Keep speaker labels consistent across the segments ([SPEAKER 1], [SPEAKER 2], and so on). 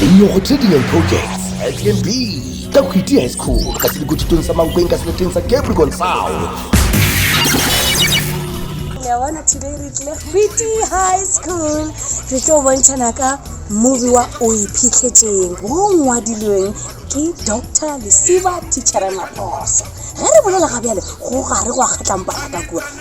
[SPEAKER 1] Lenyoko tše di leng projects SMB ka Khwiti High School ka selekotšitong sa Mankweng ka seleteng sa Capricorn Sound.
[SPEAKER 2] ya bona today re tlile Khwiti High School re tlo bontšhana ka movie wa o iphitlhetšeng wo ngwadilweng ke Dr. Lesiba Tichere Maposo ge re bolela ga bjale go gare go a kgatlampana ka kua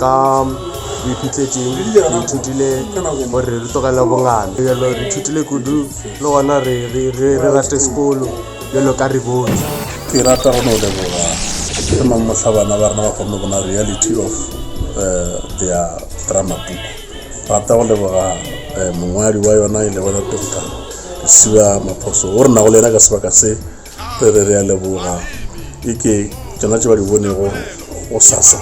[SPEAKER 3] Ka boiphihletseng re ithutile gore re tlogele bongane. Bjalo re ithutile kudu le gona re, re, re, re rate sekolo bjalo ka re bone. Ke rata go
[SPEAKER 4] no leboga ge mang mohla bana ba rena ba kgonne bona reality of uh, their drama book. Rata go leboga uh, mongwadi wa yona e lego Doctor Lesiba Maphoso o re nago le yena ka sebaka se re be re a leboga e ke tšona tše ba di bonego go sasa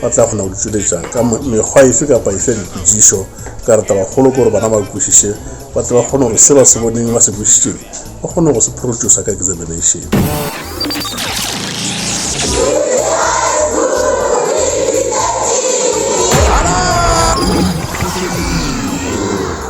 [SPEAKER 4] ba tla kgona go di tšweletša ka mekgwa efe kapa efe ya dipotšišo ka re tabakgolo ke gore bana ba kwešiše ba tle ba kgone gore se ba se boneng ba se kwešišeng ba kgone go se phorotšosa ka examination